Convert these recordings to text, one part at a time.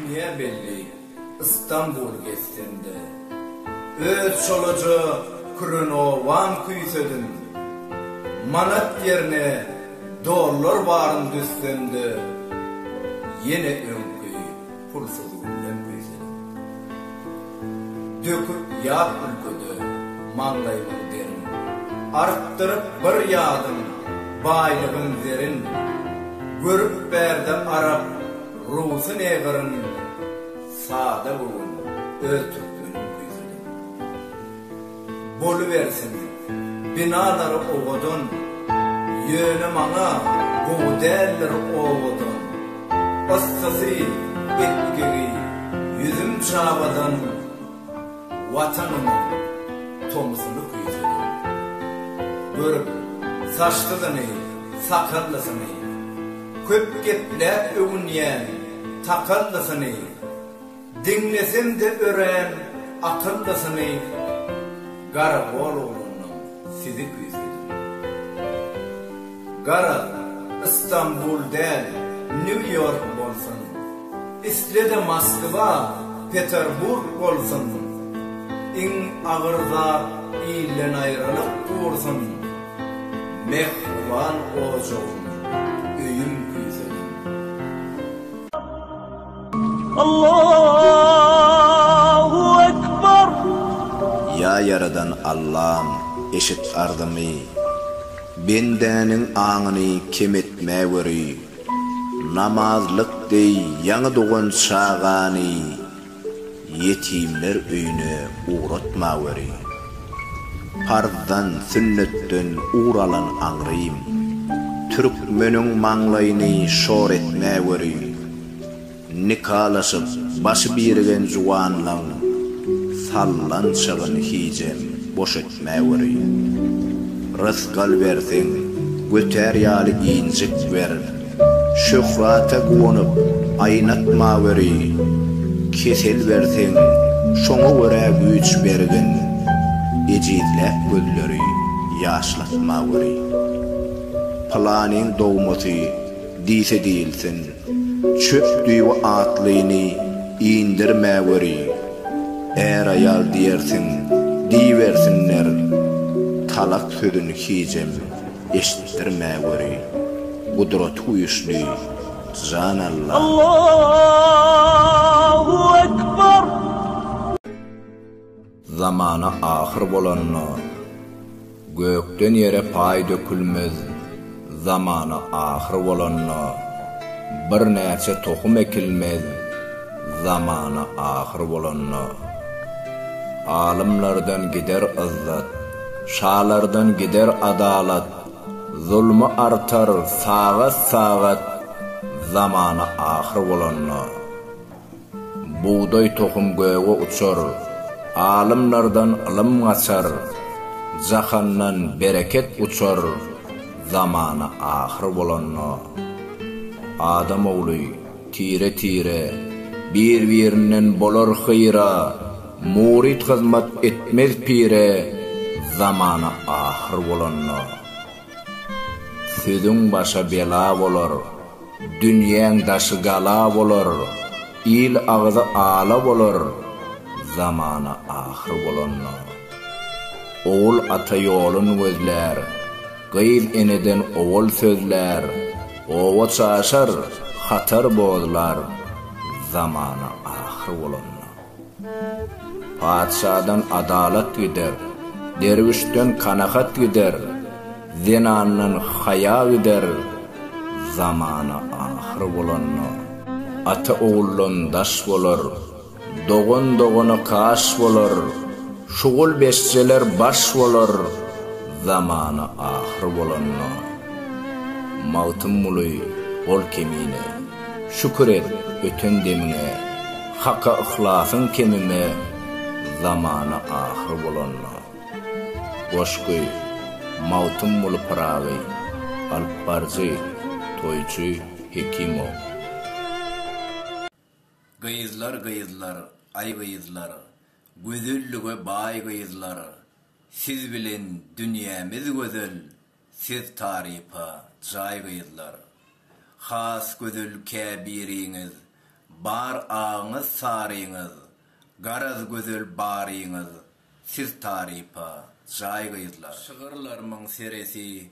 Dünýä belli Istanbul gezsem-de. Öz çolaja kürenowan küýsedim. Manat ýerine dollar baryn düzsem-de. Ýene öňki Pulsuz gülden güýzelenok. Döküp ýaz ülkede maňlaýymyň derin. Artdyryp bir ýadym baýlygyň zerin. Görüp bärde arap rusy ne gyryn. Sada göwün öz türkmenim güýzelenok. Bolubersin, binalary owadan, ýöne maňa gowy däldir owadan. Yssysy, epgigi, ýüzüm çabadan, Watanymyň tomusyny küýsedim. Görüp, saçsyzyny, sakallysyny, köp gepläp öwünýän takallysyny, Diňlesem-de örän akyllysyny Garagologlundan sizi küýsedim. Gara, Istanbul däl, Nýu-Ýork bolsun, isle-de Moskwa, Peterburg bolsun, iň agyr zat ildenaýralyk dursun, mähriban ojagym, öýüm küýsedim. Allahu ekber! Ýa Ýaradan Allam, eşit arzymy, Bendäniň aňyny kem etmäweri. Namazlyk deý ýaňy dogan çagany. Ýetimler öýüne ugratmaweri. Parzdan, sünnetden ugur alan aňrym. Türkmeniň maňlaýyny şor etmäweri. Nikalaşyp, başy birigen juwanlaň sallançagyn hijem boş etmäweri. Mäwirýä. Rysgal berseň, götär ýaly injik ber. Şöhrata guwanyp, aýnatmaweri. Kesel berseň, şoňa görä güýç bergin. Ejizläp gözleri, ýaşlatmaweri. Pylanyň dogmasy diýse diýilsin. Çöp düýbi atlyny indirmäweri, är-aýal diýersiň, diýibersinler, talak sözüni hijem eşitdirmäweri, gudrat güýçli Jan Alla! Zamana ahyr bolanda, Gökden ýere paý dökülmez, Zamana ahyr bolanda, Birnäçe tohum ekilmez, Zamana ahyr bolanda, Alymlardan gider yzzat, Şalardan gider adalat, Zulmy artar sagat-sagat, Zamana ahyr bolanda. Bugdaý tohum göge uçar, Alymlardan ylym gaçar, Jahandan bereket uçar, Zamana ahyr bolanda. Adam ogly, tire-tire, Bir-birinden bolar hyýra, Muryt hyzmat etmez pire, Zamana ahyr bolanda. Sözüň başa bela bolar, dünýäň daşy gala bolar, il agzy ala bolar, zamana ahyr bolanda. Ogul ata ýolun gözlär, gyz eneden owal sözlär, oba çaşar, hatar bozlar, zamana ahyr bolanda. Patyşadan adalat gider, derwüşden kanagat gider, zenandan haýa gider, zamana ahyr bolanda, ata oguldan daş bolar, dogan dogana kaş bolar, şugul beşjeler baş bolar, zamana ahyr bolanda. Magtymguly, Ol kemine, şükür et öten demiňe. Haka yhlasyň kemime zamana ahyr bolanda. Goşgy, Magtymguly Pyragy, alyp baryjy, toýçy Hekimow. Gyzlar gyzlar, aý gyzlar, Gözellige baý gyzlar, Siz bilen dünýämiz gözel, Siz tarypa jaý gyzlar. Has gözel käbiriňiz bar agyňyz saryňyz garaz gözel baryňyz siz tarypa jaý gyzlar. Şygyrlarmyň seresi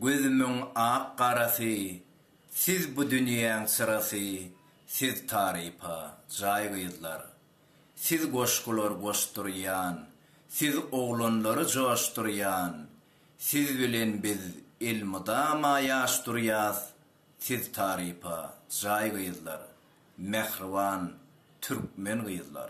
gözümiň ak garasy siz bu dünýäň çyrasy siz tarypa jaý gyzlar. Siz goşgular goşdurýan siz oglanlary joşdurýan Siz bilen biz elmydama ýaş durýas siz tarypa jaý gyzlar mähriban türkmen gyzlar.